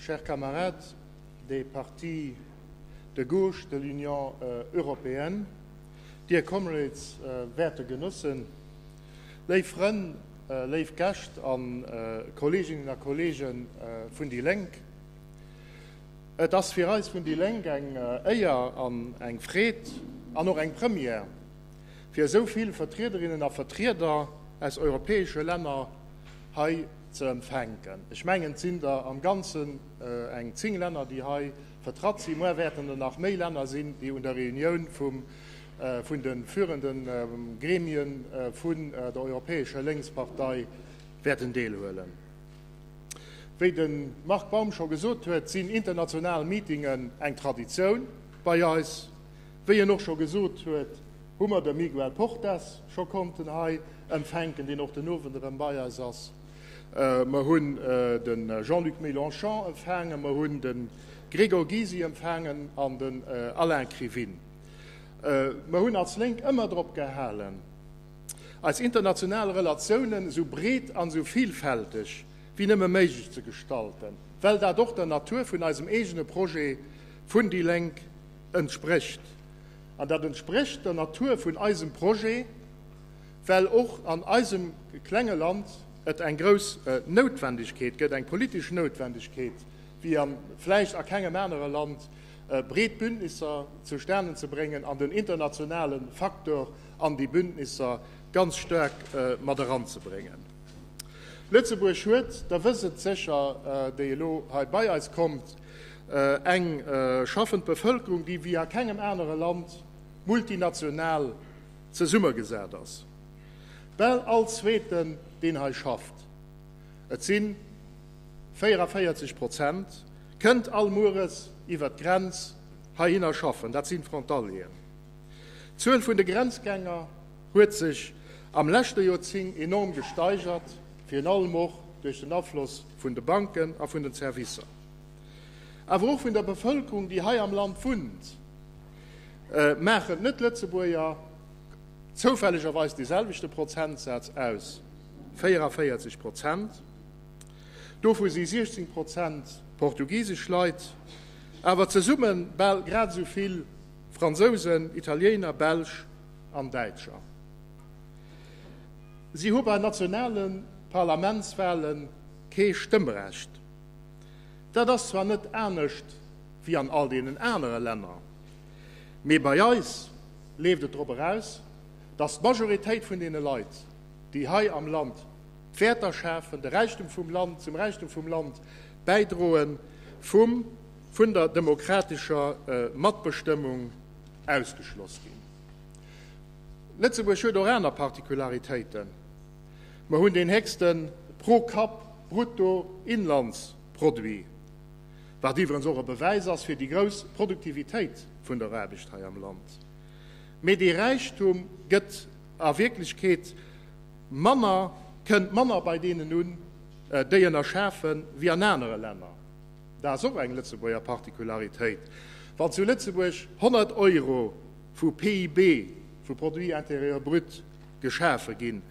Chers camarades, de Partie de gauche de l'Union européenne, dear comrades, werte Genossen, léif Frënn, léif Gäscht a Kolleeginnen a Kolleege vun déi Lénk, et ass fir eis vun déi Lénk eng Éier an eng Freed an och eng Première, fir esou vill Vertriederinnen a Vertrieder aus europäesche Länner hei ze empfänken. Ech mengen et sinn der am ganzen eng 10 Länner déi hei vertratt sinn, muer wäerten der nach méi Länner sinn déi un der Reunioun vun de führende Gremie vun der Europäescher Lénkspartei wäerten deelhuelen. Wéi de Marc Baum scho gesot huet, sinn international Meetingen eng Traditioun bei eis. Wéi en och scho gesot huet, hu mer de Miguel Portas scho konnten hei empfänken, deen och den Owend erëm bei eis ass. Mer hunn de Jean-Luc Mélenchon empfaangen, mer hunn de Gregor Gysi empfaangen an den Alain Krivine. Mer hunn als Lénk ëmmer drop gehalen, eis international Relatiounen esou breet an esou villfälteg wéi nëmme méiglech ze gestalten, well dat och der Natur vun eisem eegene Projet vun déi Lénk entsprécht. An dat entsprécht der Natur vun eisem Projet, well och an eisem klenge Land et eng grouss Noutwendegkeet gëtt, eng politesch Noutwendegkeet, wéi a vläicht a kengem anere Land, breet Bündnisser zustane ze bréngen an den internationale Faktor an déi Bündnisser ganz staark mat eranzebréngen. Lëtzebuerg huet, Der wësst et sécher, déi elo hei bei eis kommt, Eng schaffend Bevëlkerung, déi wéi a kengem anere Land multinational zesummegesat ass. Bal all Zweeten, deen hei schafft, et si 44 Prozent, kënnt all Mueres iwwer d'Grenz heihinner schaffen. Dat si Frontalieren. D'Zuel vun de Grenzgänger huet sech am leschte Joerzing enorm gesteigert, virun allem och duerch den Afloss vun de Banken a vun den Servicer, awer och vun der Bevëlkerung, déi hei am Land wunnt. Maachen d'Net-Lëtzebuerger zoufällegerweis dee selwechte Prozentsaz aus? 44 Prozent, dovu si 16 Prozent portugisesch Leit, awer zesumme bal grad esou vill Fransousen, Italiener, Belsch, an Däitscher. Si hu bei nationale Parlamentswahle kee Stëmmrecht. Dat ass zwar net anescht wéi an all deenen anere Länner, mee bei eis leeft et drop eraus, datt d'Majoritéit vun deene Leit, déi hei am Land d'Wäerter schafen, de Räichtum vum Land, zum Räichtum vum Land bäidroen, vum vun der demokratescher Matbestëmmung ausgeschloss ginn. Lëtzebuerg huet och aner Particularitéiten, Mer hunn deen héchste Pro-Kapp-Bruttoinlandsproduit, wat iwwerens och e Bewäis ass fir déi grouss Produktivitéit vun der Aarbecht hei am Land. Mee dee Räichtum gëtt a Wierklechkeet manner, kënnt manner bei deenen un, déi en erschafen, wéi an anere Länner. Dat ass och eng Lëtzebuerger Particularitéit. Wann zu Lëtzebuerg 100 Euro vu PIB, vu Produit intérieur brut, geschafe ginn,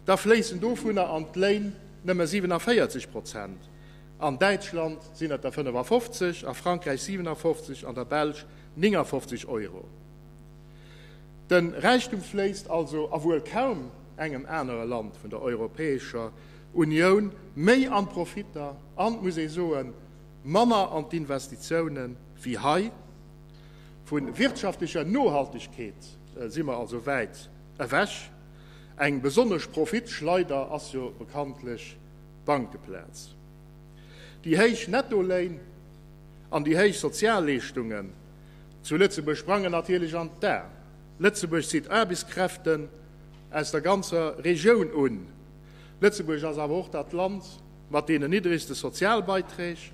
da fléissen dovunner an d'Léin nëmme 47 Prozent. An Däitschland sinn et der 55, a Frankräich 57, an der Belsch 59 Euro. De Räichtum fléisst also a wuel kaum engem anere Land vun der Europäescher Unioun, méi an d'Profitter an, muss ee soen, manner an d'Investitiounen wéi hei. Vu wirtschaftlecher Nohaltegkeet si mer also wäit ewech. Eng besonnesch Profitschleider ass jo bekanntlech d'Bankeplaz. Déi héich Nettoléin an déi héich Sozialleeschtungen zu Lëtzebuerg sprangen natierlech an d'A. Lëtzebuerg zitt Aarbechtskräften aus der ganzer Regioun un. Lëtzebuerg ass awer och dat Land mat deenen niddregste Sozialbeiträg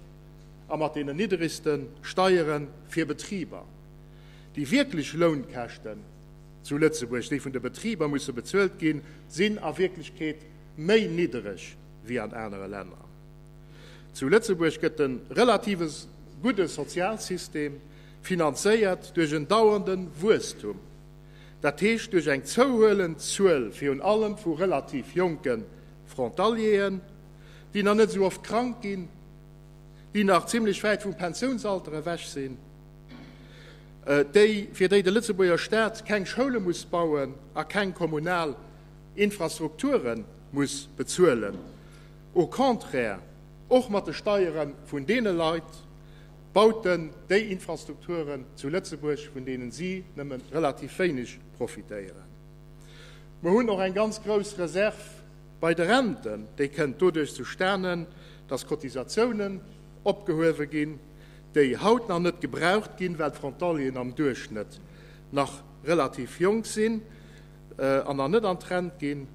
a mat deenen niddregste Steiere fir Betriber. Déi wierklech Lounkäschten zu Lëtzebuerg, déi vun de Betriber musse bezuelt ginn, sinn a Wierklechkeet méi niddereg wéi an anere Länner. Zu Lëtzebuerg gëtt de relative gudde Sozialsystem finanzéiert duerch en dauernde Wuesstum, dat heescht duerch eng zouhuelend Zuel virun allem vu relativ jonke Frontalieren, déi nach net esou oft krank ginn, déi nach zimlech wäit vum Pensiounsalter ewech sinn, déi, fir déi de Lëtzebuerger Staat keng Schoule muss bauen a keng kommunal Infrastrukture muss bezuelen, au contraire och mat de Steiere vun deene Leit, Bauten, déi Infrastrukturen zu Lëtzebuerg, vun deenen si nëmme relativ wéineg profitéieren. Mer hunn och eng ganz grouss Reserv bei de Renten. Déi kënnt doduerch zustane, dass Cotisatiounen opgehuewe ginn, déi haut nach net gebraucht ginn, well d'Frontalieren am Duerchschnëtt nach relativ jonk sinn an nach net an d'Rent ginn.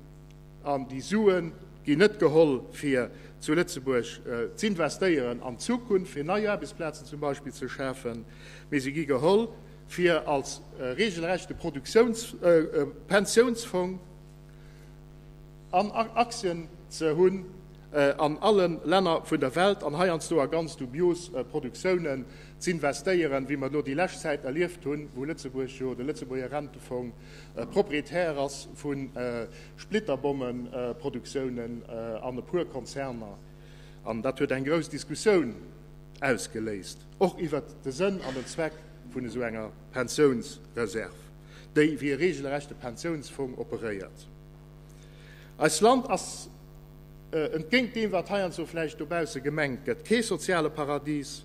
An déi Sue ginn net geholl, fir zu Lëtzebuerg z'investéieren an d'Zukunft, fir nei Aarbechtsplazen zum Beispill ze schafen, mee se gi geholl, fir als regelrechte Produktiouns-, Pensiounsfong an Aktien ze hunn an alle Länner vun der Welt an heiansdo a ganz dubios Produktiounen z'investéieren, wéi mer elo déi lescht Zäit erlieft hunn, wou Lëtzebuerg jo de Lëtzebuerger Rentefong Proprietär ass vu Splitterbommenproduktiounen an e puer Konzerner. An dat huet eng grouss Diskussioun ausgeléist, och iwwert de Sënn an den Zweck vun esou enger Pensiounsreserv, déi wéi e regelrechte Pensiounsfong operéiert. Eist Land ass, entgéint deem wat heiansdo vläicht dobausse gemengt gëtt, kee soziale Paradies.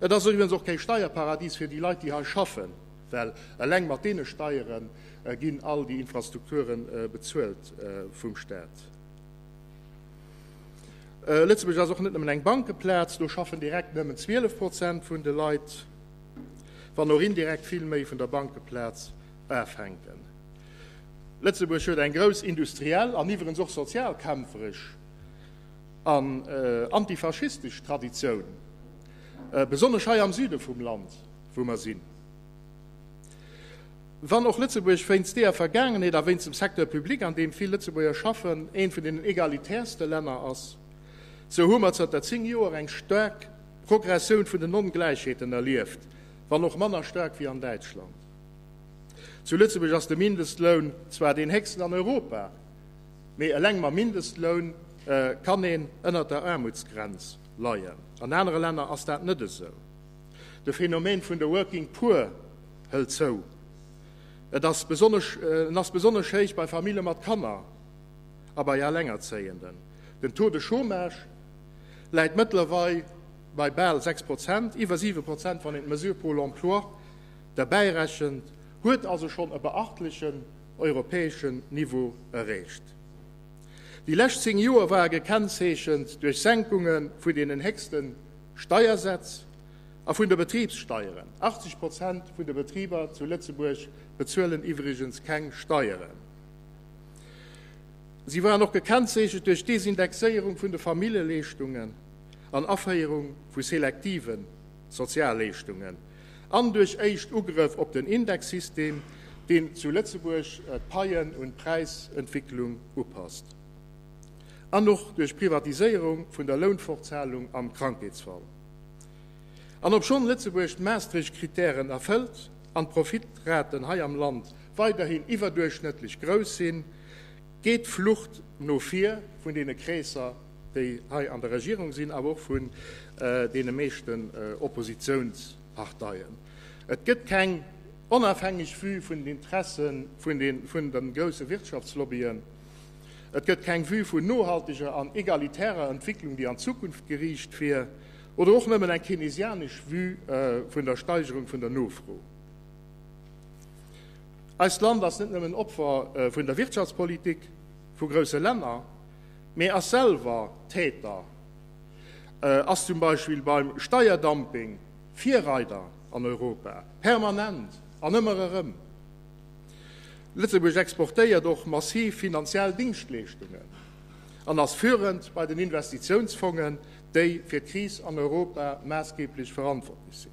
Et ass eriwuens och kee Steierparadies fir déi Leit, déi hei schaffen. Well eleng mat deene Steiere ginn all déi Infrastrukture bezuelt vum Staat. Lëtzebuerg ass och net nëmmen eng Bankeplaz, do schaffen direkt nëmmen 12 Prozent vun de Leit, wann och indirekt vill méi vun der Bankeplaz afänken. Lëtzebuerg huet eng grouss industriell an iwwerens och sozialkämpferesch an antifaschistesch Traditioun, besonnesch hei am Süde vum Land. wou mer sinn. Wann och Lëtzebuerg wéinst deeër Vergaangenheet a wéinst dem Secteur public, an deem vill Lëtzebuerger schaffen, eent vun deenen egalitäerste Länner ass, sou hu mer zanter 10 Joer eng staark Progressioun vun den Ongläichheeten erlieft, wann och manner staark wéi an Däitschland. Zu Lëtzebuerg ass de Mindestloun zwar deen héchsten an Europa, mee eleng mam Mindestloun kann een ënnert der Aarmutsgrenz leien. An anere Länner ass dat net esou. De Phänomen vun de Working Poor hëlt zou. Et ass besonnesch, en ass besonnesch héich bei Famille mat Kanner a bei Alengerzéienden. Den Taux de Chômage läit mëttlerweil bei bal 6 Prozent, iwwer 7 Prozent wann een d'Mesure Pôle Emploi derbäirechent, huet also schonn e beachtlechen europäeschen Niveau erreecht. Déi lescht 10 Joer war gekennzeechent duerch Senkunge vun deenen héchsten Steiersätz a vun de Betribssteieren. 80 Prozent vun de Betriber zu Lëtzebuerg bezuelen iwwregens keng Steieren. Si waren och gekennzeechent duerch d'Desindexéierung vun de Familljeleeschtungen an Aféierung vu selektive Sozialleeschtungen an duerch éischt Ugrëff op den Indexsystem, deen zu Lëtzebuerg d'Paien un d'Präisentwicklung upasst. an och duerch d'Privatiséierung vun der Lounfortzahlung am Krankheetsfall. An obschonn Lëtzebuerg d'Maastricht-Kritären erfëllt an d'Profitraten hei am Land weiderhin iwwerduerchschnëttlech grouss sinn, geet d'Flucht no vir vun deene Kreesser, déi hei an der Regierung sinn, awer och vun deene meeschten Oppositiounsparteien. Et gëtt keng onafhängeg Vue vun den Interessen vun de grousse Wirtschaftslobbyen. Et gëtt keng Vue vun nohalteger an egalitärer Entwicklung, déi an d'Zukunft geriicht wier, oder och nëmmen eng keynesianesch Vue vun der Steigerung vun der Nofro. Eist Land ass net nëmmen Opfer vun der Wirtschaftspolitik vu grousse Länner, mee ass selwer Täter, ass zum Beispill beim Steierdumping Virreider an Europa, permanent an ëmmer erëm. Lëtzebuerg exportéiert och massiv finanziell Dingschtleeschtungen an ass führend bei den Investitiounsfongen, déi fir d'Kris an Europa maassgeeblech verantwortlech sinn.